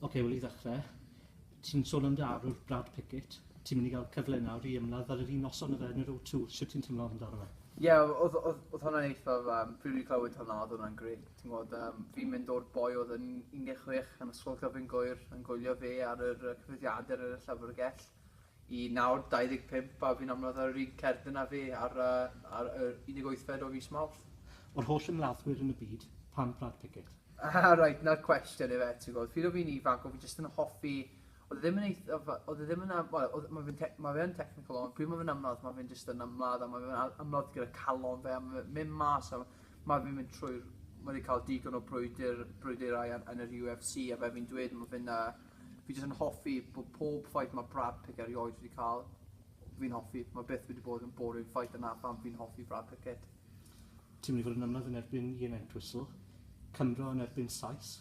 Ok, wel i ddechrau, ti'n sôn am dy arwr Brad Pickett, ti'n mynd i gael cyfle nawr i ymladd ar yr un noson o fe yn yr O2, sut ti'n teimlo amdano fe? Ie, yeah, oedd, oedd, oedd hwnna'n eithaf, um, pryd fi'n clywed hwnna, oedd hwnna'n gret. Ti'n gwybod, um, fi'n mynd o'r boi oedd yn 16 yn ysgol gyfyn gwyr yn gwylio fe ar yr cyfyddiadau ar y llyfrgell. Y nawr 25 bab hyn ymladd ar yr un cerdyn â fi ar yr 18fed o fis Mawrth. O'r holl ymladdwyr yn y byd, pam Brad Pickett? Aha, reit, 'na'r cwestiwn ife, ti'n gwybod. Pryd o' fi'n ifanc, o' fi jyst yn hoffi... Oedd e ddim yn eith- oedd oedd e ddim yn am- wel, oedd, ma' fe'n tec- ma' fe yn technical ond pryd ma' fe'n ymladd ma' fe'n jyst yn ymladd a ma' fe'n al- ymladd gyda calon fe a ma' fe'n mynd mas a ma' fe'n mynd trwy'r ma' 'di ca'l digon o brwydyr brwydyrau yn yn yr UFC a fel fi'n dweud ma' fe'n yy Fi jyst yn hoffi bod pob fight mae Brad Pickett erioed wedi cael, fi'n hoffi. Mae byth wedi bod yn boring fight yna pam fi'n hoffi Brad Pickett. Ti'n mynd i fod yn ymladd yn erbyn Ian Entwistle, Cymro yn erbyn Sais.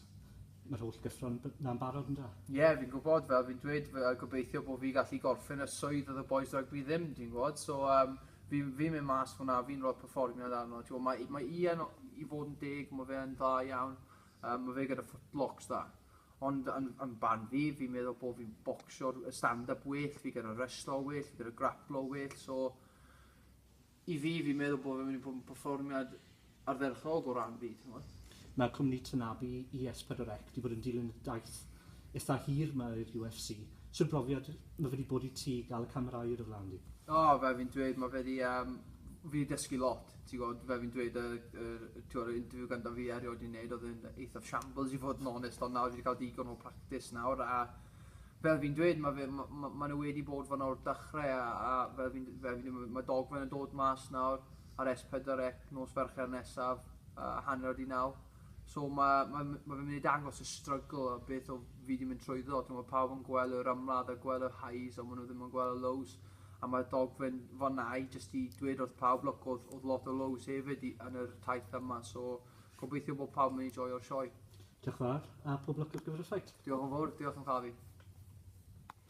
Mae'r holl gyffro'n na'n barod ynda? Ie, yeah, fi'n gwybod, fel fi'n dweud, fe, gobeithio bod fi gallu gorffen y swydd oedd y boys rygbi ddim, ti'n gwybod? So, um, fi'n fi mynd mas fyna, fi'n rhoi performiad arno. Ti'n gwybod, mae, mae Ian, i fod yn deg, mae fe yn dda iawn. Um, mae fe gyda footlocks dda. Ond yn, yn barn fi, fi'n meddwl bod fi'n bocsio stand-up well, fi gyda reslo well, fi gyda grapplo well, so i fi, fi'n meddwl bod fi'n mynd i bod yn performiad ardderchog o ran fi, ti'n gwybod? Mae cwmni Tanabe i S4C wedi bod yn dilyn y daith eitha hir mae i'r UFC. Sut brofiad mae wedi bod i ti gael y camerâu ar y flaen di? O, fel fi'n dweud, mae fe wedi, um, fi wedi dysgu lot. Ti'n gwybod, fel fi'n dweud, y, y, y, ti'n gwybod, y interview gyntaf fi erioed wedi wneud, oedd yn eithaf shambles i fod yn onest, ond nawr fi wedi cael digon o practis nawr, a fel fi'n dweud, mae fe, ma, ma, ma nhw wedi bod fan o'r dechrau, a, a fel fi'n, fel fi'n dweud, mae dogfen yn dod mas nawr, ar S4C nos Fercher nesaf, a hanner o di naw. So mae, mae, mae fe'n mynd i dangos y struggle a beth o fi wedi mynd trwyddo, ti'n gwybod, pawb yn gweld yr ymladd a gweld y highs, ond maen nhw ddim yn gweld y lows. a mae'r dogfen fanna i jyst i dweud wrth pawb look oedd, oedd lot o lows hefyd i, yn yr taith yma so gobeithio bod pawb yn ei joio'r sioe. Diolch fawr a pob lwc ar gyfer y ffait. Diolch yn fawr, diolch yn fawr.